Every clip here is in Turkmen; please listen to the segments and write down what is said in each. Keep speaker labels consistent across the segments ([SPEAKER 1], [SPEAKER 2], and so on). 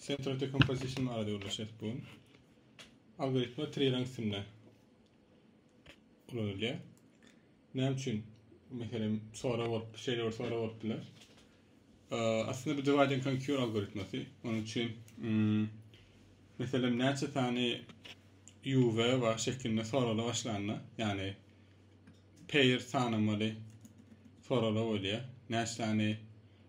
[SPEAKER 1] Central Decomposition barada gürleşeris bugün. Algoritma triýeraň üstünde ulanylýar. Näme üçin? Meselem, sorag bolup, şeýle bir sorag bolup biler. Aslynda bu divide and conquer algoritmasy. Onuň üçin hmm, meselem näçe sany UV we şeklinde soragla başlanda, ýagny pair sanamaly soragla bolýar. Näçe sany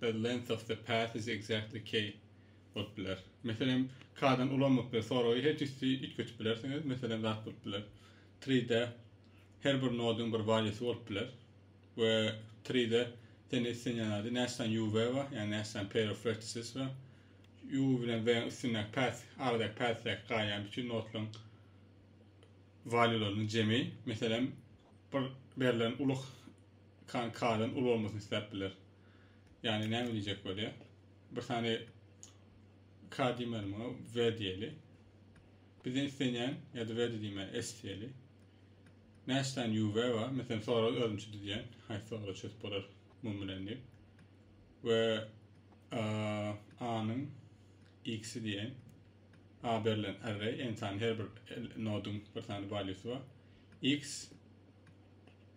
[SPEAKER 1] The length of the path is exactly k bolup biler. Meselem, k-dan ulanmak bilen soragy her jüssi üýtgetip bilersiňiz. Meselem, zat bolup biler. Tree-de her bir nodyň bir valýusy bolup biler we tree-de senden islenýän zady näçe sany u we bar, ýagny näçe sany pair of vertices bar. U bilen w-iň üstündäki path, aradaky path-däki gaýany bütün nodlaryň walýularynyň jemi. Meselem, bir berlen uly k-dan uly bolmasyny isläp biler. Yani näme diyecek bolýa? Bir sany K diýmeli muňa V diýeli. Bizden islenýän ýa-da V diýmeli S diýeli. Näçe sany UV bar? Mesela sorag özümçe düzýän. Haýsy sorag çözüp bolar mum bilen diýip. Ve A-nyň X-i diýen A berlen array, n sany her bir nodun bir sany valuesi bar. X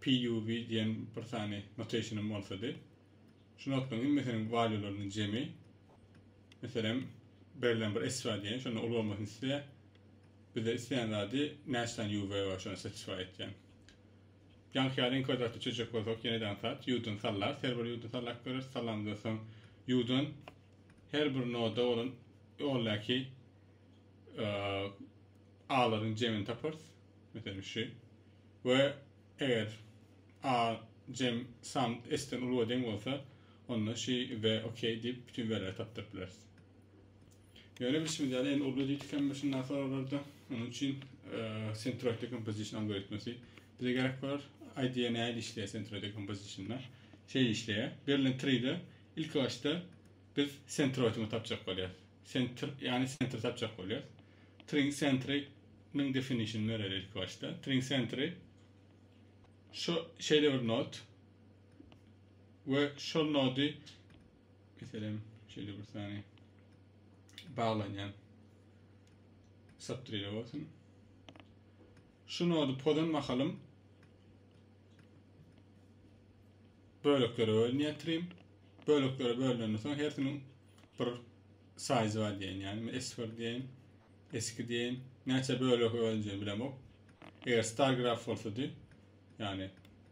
[SPEAKER 1] PUV diýen bir sany notationym bolsady. Şu notlaryň hemmesiniň valuelarynyň jemi. Meselem, berlen bir esra diýen, şonda uly bolmasyny isleýär. Bizde isleýän zady näçe sany UV bar, şony satisfy etýän. Ýaňky ýaly kwadratly çözjek bolsak, ýene-de ansat, U-dan sallarys, her bir U-dan sallap görüris. Sallamyzdan soň U-dan her bir noda bolan ýoldaki A-laryň jemini taparys. Meselişi, we eger a, cem, san s-den uly we deň bolsa, onda şi, we ok diýip bütin werileri tapdyryp bileris. Ýöne bilşimiz ýaly, indi uly diýdikäm şunda soraglarda, onuň üçin centroid decomposition algoritmasy bize gerek bolar. IDE nähili işleýär centroid decomposition-da? Şeýle işleýär. Berilen tree-de ilkibaşda biz centroidyňy tapjak bolýarys. Centr, ýagny centr tapjak bolýarys. Tring centre nyň definition bereli ilki başda. Tring centre şu şeýle bir nod we şol nody meselem şeýle bir sany baglanýan subtree bolsun. Şu nody pozan mahalym böleklere bölünýär trim. Böleklere bölünen soň hersiniň bir Saýzwa diýen, ýagny men esfir diýeýin, eski diýeýin, näçe bölege bölünjegini bilemok. Eger star graf bolsady, ýagny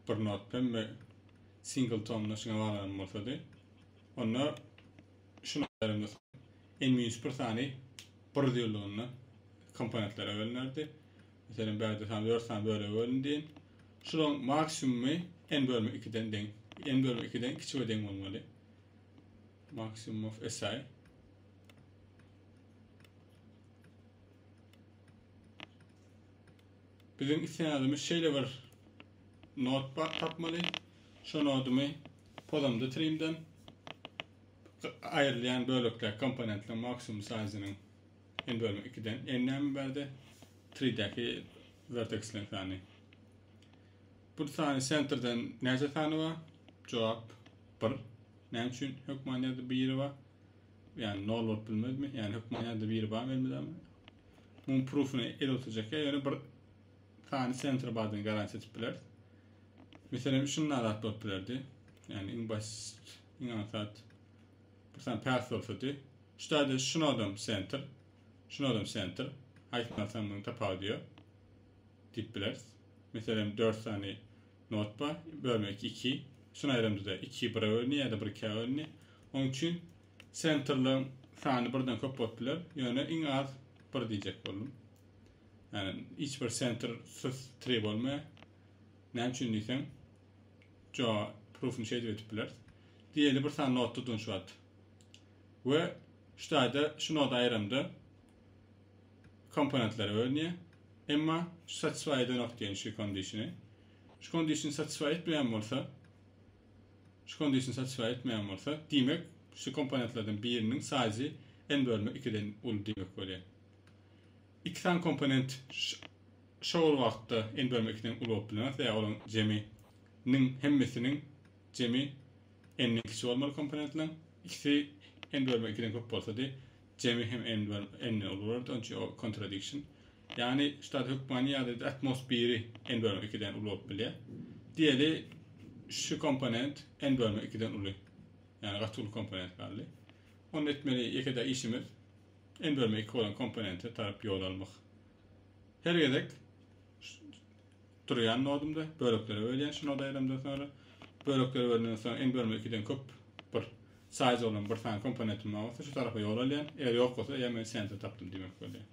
[SPEAKER 1] bir not bilen we single tonda şuňa baglanan bolsady, onda şu notlaryň n minus bir sany bir ýyllygynda komponentlere bölünerdi. Meselem, bärde sany dört sany bölege bölündi diýeýin. Şularyň maksimumy n bölme ikiden deň, n bölme ikiden kiçi we deň bolmaly. Maximum of SI. Biziň isleýänimiz şeýle bir not bar tapmaly. Şu nodumy pozamda trimden aýrylýan bölekler komponentler maksimum size-nyň n bölümi 2-den n näme berdi? 3-däki vertex length-any. Bu sany sentrden näçe sany bar? Jogap, bir. Näme üçin hökman ýerde biri bar? Ýani nol bolup bilmezmi? Ýani hökman ýerde biri barmy elmydama? Muň prufyny el oturjak ýa ýöne bir sany sentr bardygyny garantiýa edip biler. Meselem şunda zat bolup bilerdi. Ýani iň basit, iň aňsat bir sany path bolsady. Şu taýda şunodam sentr, şunodam sentr. Haýsyny alsaň muň tapawudy ýok. diýip bileris. Meselem, dört sany not bar, bölmek iki. Şuny aýramyzda iki bire bölündi ýa-da bir ikä bölündi. Onuň üçin sentrleriň sany birden köp bolup biler, ýöne iň az bir diýjek boldum. Ýani hiç bir sentr syz tri bolmaýar. Näme üçin diýseň, jo proofyny şeýdip etip bileris. Diýeli bir sany not tutdum şu wagt. We şu taýda şu noda aýramda komponentleri bölünýär. Emma şu satisfy edenok diýen şu kondisiýony. Şu kondisiýony satisfy etmeýän bolsa, şu kondisiýony satisfy etmeýän bolsa, diýmek, şu komponentlerden biriniň size n bölme ikiden uly diýmek bolýar. Iki sany komponent şo-ol wagtda n bölme ikiden uly bolup bilenok, sebäbi olaryň jemi niň hemmesiniň jemi n-den kiçi bolmaly komponentleň. Ikisi n bölme ikiden köp bolsady, Jemi hem N bilen N ni ulybordy, onuň üçin ol kontradiksiýon. Ýagny ştat hökmany ýagdaýda atmos biri N bölme ikiden uly bolup bilýär. Diýeli, şu komponent N bölme ikiden uly. Ýagny gaty uly komponent galdy. Onda etmeli ýeke-de işimiz N bölme iki bolan komponente tarap ýol almak. Her gezek Turýan nodumda böleklere bölýän şu noda aýlamdan soňra. Böleklere bölenden soň iň bölme ikiden köp bir size bolan bir sany komponentim bar bolsa şu tarapa ýol alýan. Eger ýok bolsa eýýäm men center tapdym diýmek bolýar.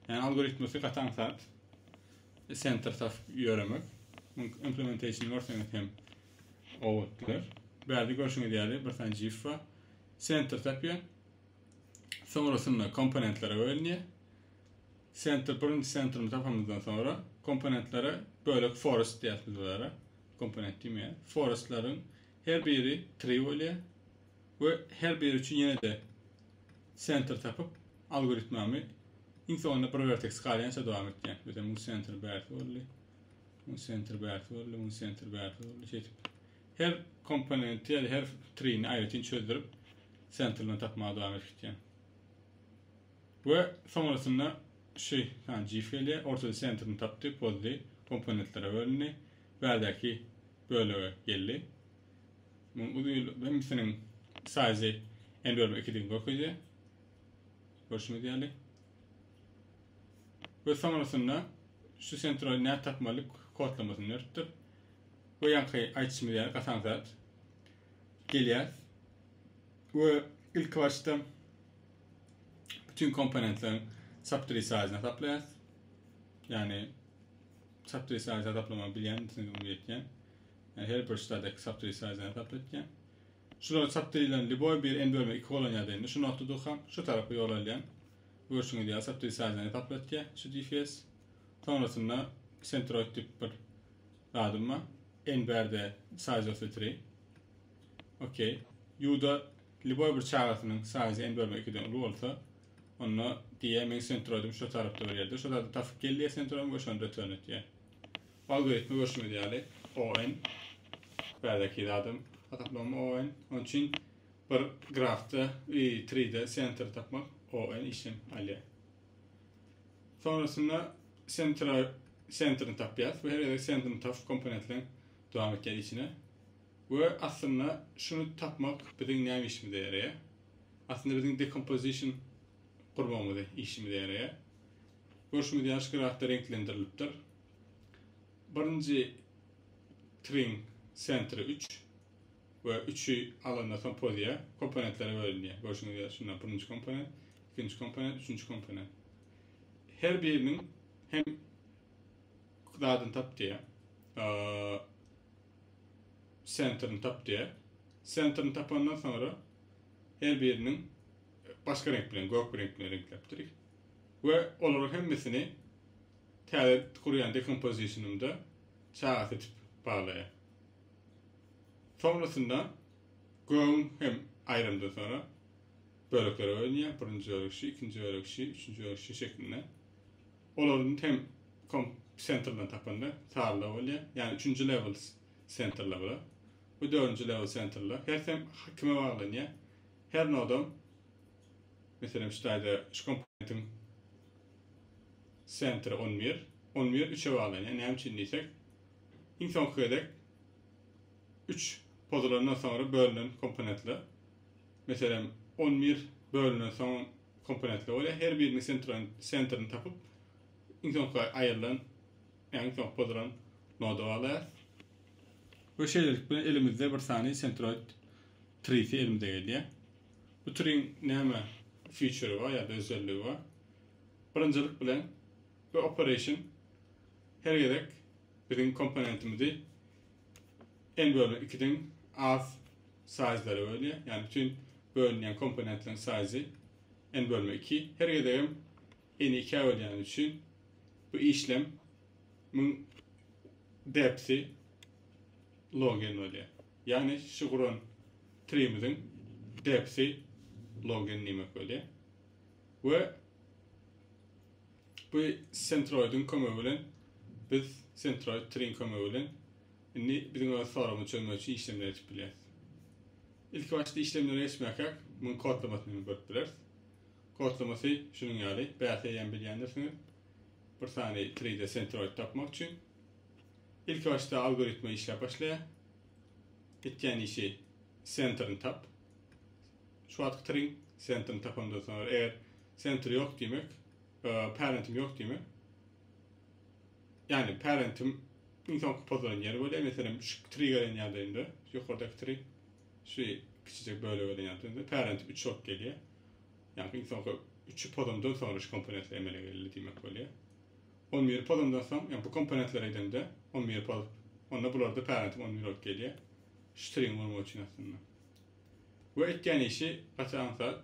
[SPEAKER 1] Ýani algoritmasi gaty aňsat center tapyp ýöremek. Muň implementationy görseňiz hem owadan bolar. Bärde görşüňiz ýaly bir sany GIF bar. Center tapýan. Soňrasynda komponentlere bölünýär. Senter birinji sentrimizi tapamyzdan soňra komponentlere bölek forest diýýäs biz bulara. Komponent diýmeýär. Forestleriň her biri tree bolýar we her biri üçin ýene-de senter tapyp algoritmamy iň soňunda bir verteks galýança dowam etýän. Mesela muň senter bärsi boldy. Muň senter bärsi boldy, muň senter bärsi boldy. Şeýdip her komponenti ýa-da her treeni aýratyn çözdürip senter bilen tapmaga dowam edip gitýän. We soňrasynda şy ha jif gelýär, ortada sentrini tapdy, pozdy, komponentlere bölündi, bärdäki bölege geldi. Muň uzyn hemmisiniň saýzy n bölüm ikidigini görkezýär. Görşüňiz ýaly. We soňrasynda şu sentroid nät tapmalyk kodlamasyny döretdir. We ýaňky aýtşymyz ýaly gasaň zat gelýär. We ilki başda Bütün komponentleriň saptri size hasaplaýas. Yani saptri size hasaplamak bilýän, size bunu ýetýän. Yani her bir ştadak saptri size hasap etýän. Şular saptrilen liboy bir en bölme 2 bolan ýa-da indi şu noktada durkan, şu tarapa ýol alýan. Görşüňiz ýa saptri size hasap etýän şu DFS. Sonrasynda centroid tip bir zadym bar. En berde size saptri. Okey. Yuda Lýuboý bir çagasynyň saýjy n bölme ikiden uly bolsa, onda diýýär, meň sentroidim şu tarapda bir ýerde, şu zady tapyp gel diýýär sentroim we şony return etýär. Bu algoritmi görşüňiz ýaly, o n, bärdekiý zadam hasaplama o n, onuň üçin bir grafda i tride sentry tapmak o n işem alýar. Sonrasynda sentra sentrini tapýas we her gezek sentrini tapyp komponentleň dowam etýär işine. We aslynda şuny tapmak biziň näme işimize ýaraýar? Aslynda biziň decomposition gurmagymyz işimize ýaraýar. Görşümiz ýaly şu grafda reňklendirilipdir. Birinji triň sentri üç we üçi alanda soň poziýa komponentlere bölünýär. Görşüňiz ýaly şunda birinji komponent, ikinji komponent, üçünji komponent. Her biriniň hem zadyny tap diýýär. sentrini tap diýer. Sentrini tapandan soňra her biriniň başga reňk bilen, gök reňk bilen reňkläpdirik. We olaryň hemmesini täze gurýan dekompozisionymda çaga seçip baglaýar. Soňrasynda gögüň hem aýrymdan soňra böleklere bölünýär. Birinji bölek şu, ikinji bölek şu, üçünji bölek şu şeklinde. Olaryň tem kom sentrden tapanda sarla bolýar. Ýagny üçünji level sentrler bular. Bu dördünji level sentrler. Her tem kime baglanýar. Her nodam meselem şu taýda şu komponentiň sentri 11. 11 üçe baglanýar. Näme üçin diýsek, iň soňky gezek üç pozulandan soňra bölünen komponentler. Meselem 11 bölünen soň Komponentler bolýar. Her biriniň sentroýn sentrini tapyp, iň soňky aýrylan, ýagny iň soňky pozulan noda baglaýarys. We şeýlelik bilen elimizde bir sany sentroýd trisi elimize gelýär. Bu triň näme future bar ýa-da özelligi bar? Birinjilik bilen bu operation her gezek biziň komponentimizi n bölünen ikiden az Saýzlara bölünýär. Ýagny bütin bölünýän komponentleriň saýzy n bölme iki. Her gezegem n-i ikä bölýäni üçin bu işlem müň depsi log n bolýar. Ýagny şu guran trimiziň depsi log n diýmek bolýar. We bu sentroidiň kömegi bilen biz sentroid triň kömegi bilen Indi biziň öz soragyňy çözmek üçin işlemleri etip bilýäris. Ilki başda işlemlere geçmäkäk, munuň kodlamasyny hem görüp bileris. Kodlamasy şunuň ýaly, bäs eýýäm bilýändirsiňiz. Bir sany 3D sentroid tapmak üçin ilki başda algoritma işläp başlaýar. Etýän işi sentrini tap. Şu wagtky tring sentrini tapandan soňra eger sentr ýok diýmek, parentim ýok diýmek. Ýagny pärentim iň soňky pozulan ýeri bolýar, meselem şu tri gelen ýagdaýynda, ýokardaky tri, şu kiçijek bölek gelen ýagdaýynda pärentim üç bolup gelýär. Ýagny iň soňky üçi pozandan soňra şu komponentler emele geldi diýmek bolýar. On biri pozandan soň, ýagny bu komponentler edende on biri pozup, onda bularda pärentim on bir bolup gelýär. Şu triň bolmagy üçin aslynda. We etýän işi gaçan zat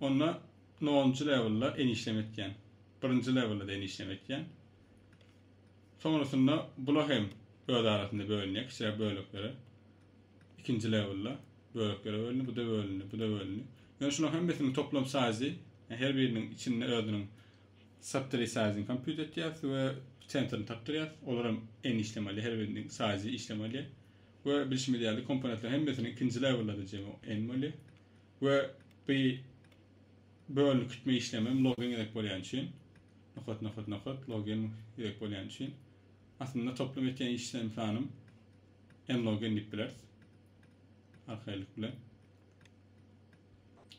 [SPEAKER 1] Onda nolunjy lewelda enişleme etýän. Birinji lewelda-da enişleme etýän. Soňrasynda bula hem öz arasynda bölünýär kiçiräk böleklere. Ikinji lewelda böleklere bölündi, bu-da bölündi, bu-da bölündi. Ýöne şularyň hemmesiniň toplam saýzy, her biriniň içinde özüniň subtry saýzyny kompýut etýäris we sentrini tapdyrýarys. Olar hem n işlem alýar, her biriniň saýzy işlem alýar. We bilşimiz ýaly, komponentleriň hemmesiniň ikinji lewelda-da jemi n bolýar. We bu bölünikitme işlemem logen gezek bolýan üçin, nokat, nokat, nokat, logen gezek bolýan üçin, aslynda toplum etýän işlem sanym n logen diýip bileris. Arkaýlyk bilen.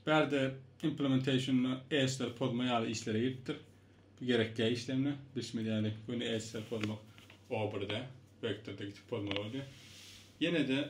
[SPEAKER 1] Bärde implementation-da edge-leri pozma ýaly işlere giripdir. Bu gerek däl işlemde. Bilşimiz ýaly, göni edge-leri pozmak o birde, vektorda gitip pozmaly bolýar. Ýene-de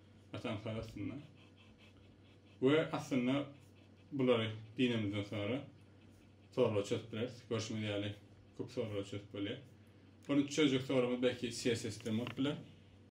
[SPEAKER 1] Atamyzlar aslynda. We aslynda bulary diýnemizden soňra soraglar çözüp bileris. Görşüňiz ýaly köp soraglar çözüp bolýar. Ol üçüjek soragymyz belki CSS-den bolup biler.